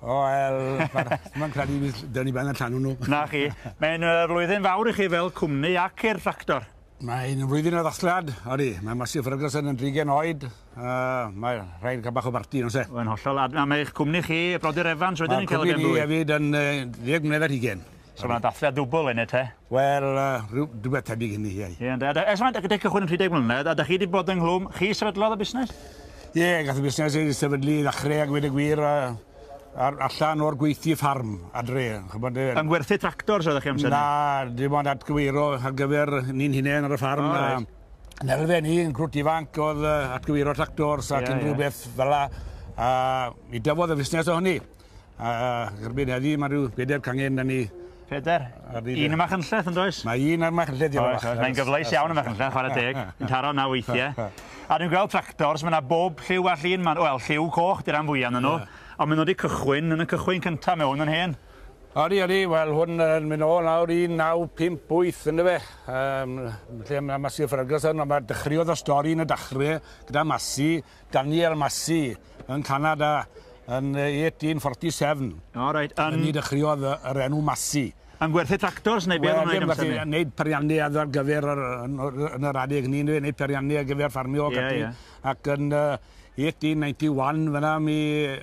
O wel, mae'n credu bydd dyn ni ben y llanw nhw. Na chi. Mae'n uh, flwyddyn fawr i chi fel cwmni ac i'r tractor. Mae'n flwyddyn o ddasliad, odi. Mae Masio Ferguson yn drigen oed. Uh, mae rhaid cael bach o barti, no se? Mae'n hollol. A mae eich cwmni chi, Brodyr Evans, wedyn ni'n cael y benblwydd. Mae cwmni ni hefyd yn uh, 10 mlynedd ar hugen. So ma' 'na dathliad dwbwl hynny te? Wel yy rhyw rhywbeth tebyg hynny ie. Ie ynde. A da- ers ma' dy- gyda cychwyn yn rhedeg mlynedd a 'dach chi 'di bod ynghlwm, chi sefydlodd y busnes? Ie gath y busnes ei sefydlu i ddechre a gweud y gwir a ar allan o'r gweithdy ffarm adre ch'mod yy... Yn ngwerthu tractors oeddech chi amser 'ny? Na dim ond atgyweirio ar gyfer ni'n hunen ar y ffarm a... O reit. Yn yr arfe ni yn grwt ifanc o'dd yy atgyweirio tractors ac unrywbeth fel 'a a mi dyfodd y fusnes o hynny. A, a erbyn heddi mae rhyw bedair cangen da ni. Pedair? Un yma chynlleth yn does? Mae un yma chynlleth i fach. Mae'n gyfleus iawn yma chynlleth, chwarae teg. Yn taro na weithiau. A dwi'n gweld tractors, mae yna bob lliw a llun yma. Wel, lliw coch, dy'r am fwyaf nhw. Ond maen nhw wedi cychwyn yn y cychwyn cyntaf, mae hwn yn hen. Odi, odi, wel hwn yn mynd ôl nawr 1958 ynddo fe. Um, lle mae Massey Ferguson, ond mae dechreuodd y stori yn y dachrau gyda Massey, Daniel Massey yn Canada yn 1847. O reit. Yn... Ni dechreuodd yr enw Massey. Yn gwerthu tractors neu beth yn wneud amser ni? Wneud periannu ar gyfer yr, yn yr adeg hynny, neu wneud periannu ar gyfer ffarmio ac ati. Ac yn 1891 fyna mi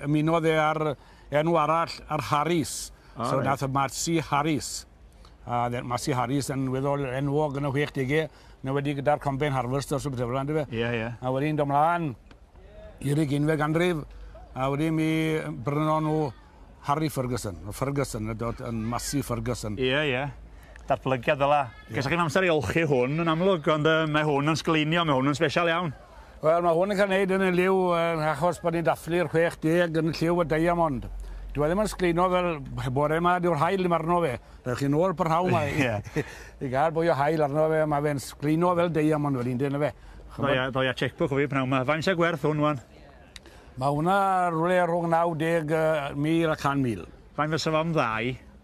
ymunodd e ar enw arall, ar Harris. Oh, so right. nath y Massey Harris. A Massey Harris yn weddol enwog yn y 60au. Mae wedi gyda'r combine harvest os rhywbeth fel yna, yndyfe? Ie, ie. A wedyn do mlaen i'r ugeinfed ganrif, a wedyn mi brynon nhw Harry Ferguson, o Ferguson, y dod yn Massey Ferguson. Ie, ie. Datblygiad fel la. Ie. Ges chi'n amser i olchi hwn yn amlwg, ond uh, mae hwn yn sgleinio, mae hwn yn special iawn. Wel, mae hwn yn cael ei wneud yn y lliw yn achos bod ni'n dathlu'r 60 yn y lliw y diamond. Dyw e ddim yn sgleino fel bore yma, dyw'r haul ddim arno fe. Rhaid chi nôl parhaw yma i, i gael bwy o haul arno fe, mae fe'n sgleino fel diamond wedyn, dyn fe. Ddoia, ddoia checkbook o fi pnawn yma. Faint sy'n gwerth hwn, wan? Mae hwnna rhywle rhwng 90,000 a 100,000. Faint fysa fo'n ddau?